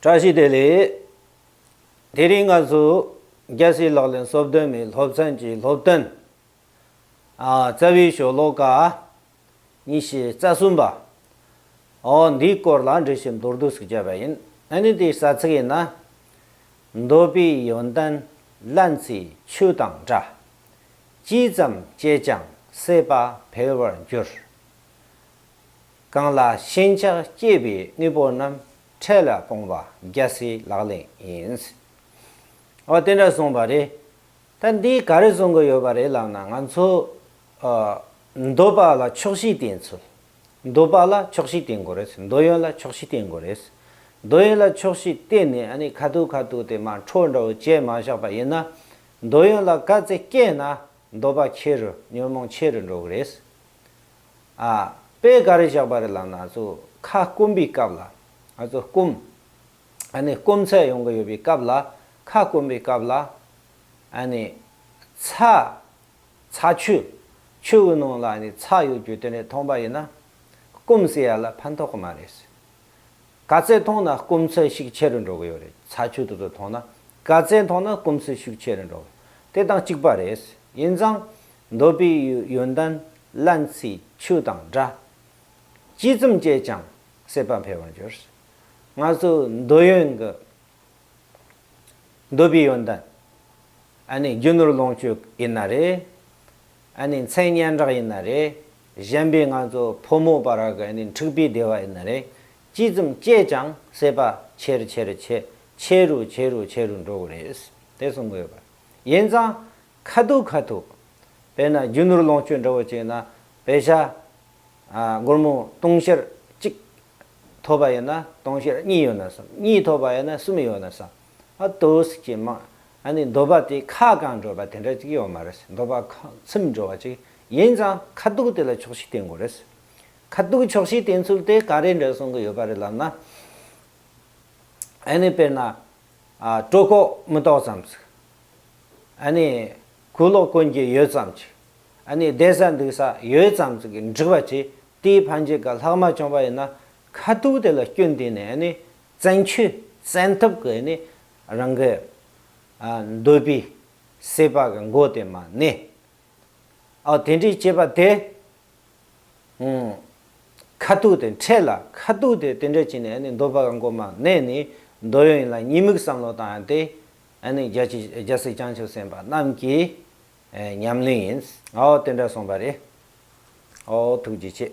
བཀྲ་ཤིས་བདེ་ལེགས། དེ་རིང་ང་ཚོ་རྒྱལ་སྲིད་ལག་ལེན་གསོལ་སྟོན་མའི་སློབ་ཚན་གྱི་སློབ་སྟོན་རྩ་བའི་ཞོ་ལོ་ཀ་ཉི་ཤུ་རྩ་གསུམ་པ་འོ་འདིའི་སྐོར་ལ་འགྲེལ་བཤད་མདོར་བསྡུས་སུ་བརྒྱབ་པ་ཡིན་ཨ་ནི་དེའི་ས་ཚིགས་ཡིན་ན། འདོད་པའི་ཡོན་ཏན་རླན་ཚེ་ཆུ་དང་འདྲ། ཅི་ཙམ་སྤྱད་ཀྱང་སྲེད་པ་འཕེལ་བར་འགྱུར། གང་ལ་ཞེན་ཆགས་སྐྱེས་པའི་དངོས་པོ་རྣམས་འཕྲལ་ལ་སྤོང་བ་རྒྱལ་སྲས་ལག་ལེན་ཡིན། ཨོ་དེ་འདྲ་གསུངས་པ་རེད། ད་འདིས་ག་རེ་གསུང་གི་ཡོད་པ་རེད་ལབ་ན་ང་ཚོ་མདོ་པ་ལ་ཆོག་ཤེས་བསྟེན་ཚུལ། མདོ་པ་ལ་ཆོག་ཤེས་བསྟེན་དགོས་རེད་མདོ་ཡོན་ལ་ཆོག་ཤེས་བསྟེན་དགོས་རེད། མདོ་ཡོན་ལ་ཆོག་ཤེས་བསྟེན་ནས་ཨ་ནི་ཁ་ཐུག་ཁ་ཐུག་དེ་མ་འཕྲོ་འདྲ་བོ་བཅད་མ་བཞག་པ་ཡིན་ན་མདོ་ཡོན་ལ་དཀའ་ཚེགས་སྐྱེས་ན་མདོ་པ་ཁྱེད་རུ་ཉོན་མོངས་ཆེ་རུ་འགྲོ་གི་རེད། ཨ། དཔེ་ག་རེ་བཞག་པ་རེད་ལབ་ན་ཚོ་ཁ་སྐོམ་པའི་སྐབས་ལ། ཚོ་སྐོམ། ཨ་ནི་སྐོམ་ཚད་ཡོང་གི་ཡོད་པའི་སྐབས་ལ་ཁ་སྐོམ་པའི་སྐབས་ལ། ཨ་ནི། ཚ། ཚ་ཆུ། ཆུ་བོའི་ནང་ལ་ནི་ཚ་ཡོད་རྒྱུ་དེ་འདྲ་མཐོང་པ་ཡིན་ན། སྐོམ་ཟེར་ཡ་ལ་ཕན་ཐོག་གི་མ་རེད། ག་ཚད་མཐོང་ན་སྐོམ་ཚད་ཤུགས་ཆེ་རུ་འགྲོ་གི་ཡོད་རེད་ཚ་ཆུ་དེ་ཚོ་མཐོང་ན། ག་ཚད་མཐོང་ན་སྐོམ་ཚད་ཤུགས་ཆེ་རུ་འགྲོ་གི་ཡོད་དེ་དང་གཅིག་པ་རེད། ཡིན་ཙང། འདོད་པའི་ཡོན་ཏན་སླན་ཚེའི་ཆུ་དང་འདྲ། ཅི་ཙམ་སྤྱད་ཀྱང་སྲེད་པ་འཕེལ་བར་འགྱུར། སྔར་སོར་འདོད་ཡོན་གྱི་འདོད་པའི་ཡོན་ཏན། རྒྱུ་ནོར་ལོངས་སྤྱོད་ཡིན་ན་རེ། མཚན་སྙན་གྲགས་ཡིན་ན་རེ། གཞན་པའི་སྔར་སོར་ཕོ་མོ་བར་གྱི་འཁྲིག་པའི་བདེ་བ་ཡིན་ན་རེ། ཅི་ཙམ་སྤྱད་ཀྱང་སྲེད་པ་ཆེ་རུ་ཆེ་རུ་ཆེ་རུ་ཆེ་རུ་འགྲོ་དགོས་རེད། དེ་གསུང་གི་ཡོད་པ། ཡིན་ཙང་ཁ་ཐུག་ཁ་ཐུག། དཔེར་ན་རྒྱུ་ནོར་ལོངས་སྤྱོད་འདྲ་བོ་བྱས་ན་བེ་ཤ། སྒོར་མོ་སྟོང་བཤེར་གཅིག་ཐོབ་པ་ཡོད་ན་སྟོང་བཤེར་གཉིས་ཡོད་ན་བསམ་གཉིས་ཐོབ་པ་ཡོད་ན་གསུམ་ཡོད་ན་བསམ། ཨ་ཏོས་ཀྱི་མ། ཨ་ནི་འདོད་པ་དེ་ཁ་བསྐང་འགྲོ་བ་དེ་འདྲ་ཅིག་ཡོད་མ་རེད་འདོད་པ་ཚིམ་འགྲོ་བ་ཅིག་ཡིན་ཙང་ཁ་ཐུག་དེ་ལ་ཆོག་ཤེས་བསྟེན་དགོས་རེད། ཁ་ཐུག་ཆོག་ཤེས་བསྟེན་ཚུལ་དེ་ག་རེ་འདྲ་གསུང་གི་ཡོད་པ་རེད་ལབ་ན། ཨ་ནི་དཔེར་ན་སྤྲོ་ཁོག་མི་ཏོག་ཙམ་ཟིག། ཨ་ནི། གུ་ལོག་ཀུན་གྱི་ཡོད་ཙམ་གྱིས། ཨ་ནི་བསྡད་ས་འདུག་ས་ཡོད་ཙམ་ཟིག་གི་འགྲིག་པ་གྱིས་དེའི་ཕ་འཇིག་ག་ལྷག་མ་བྱུང་བ་ཡིན་ན་ཁ་ཐུག་དེ་ལ་སྐྱོན་དེ་ནི་ཨ་ནི་བཙན་ཆུས་བཙན་ཐབས་ཀྱིས་ནི་རང་གི། ཨ། འདོད་པའི། སྲེད་པ་གི་མགོ་དེ་མ་གནས། ཨོ་དེ་འདྲའི་སྐྱེས་པ་དེ། ཁ་ཐུག་དེ་འཕྲད་ལ་ཁ་ཐུག་དེ་དེ་འདྲ་བྱས་ནས་མདོ་བ་གང་གོ་མ་གནས་ནས་མདོ་ཡོད་ཡིན་ལ་གཉིས་མིག་བསམ་བློ་དང་ཡང་དེ་རྒྱ་སེ་བྱང་ཆུབ་སེམས་དཔའ་རྣམས་ཀྱི་ཉམས་ལེན་ཡིན། ཨོ་དེ་འདྲ་གསུངས་པ་རེད། ཨོ་ཐུགས་རྗེ་ཆེ།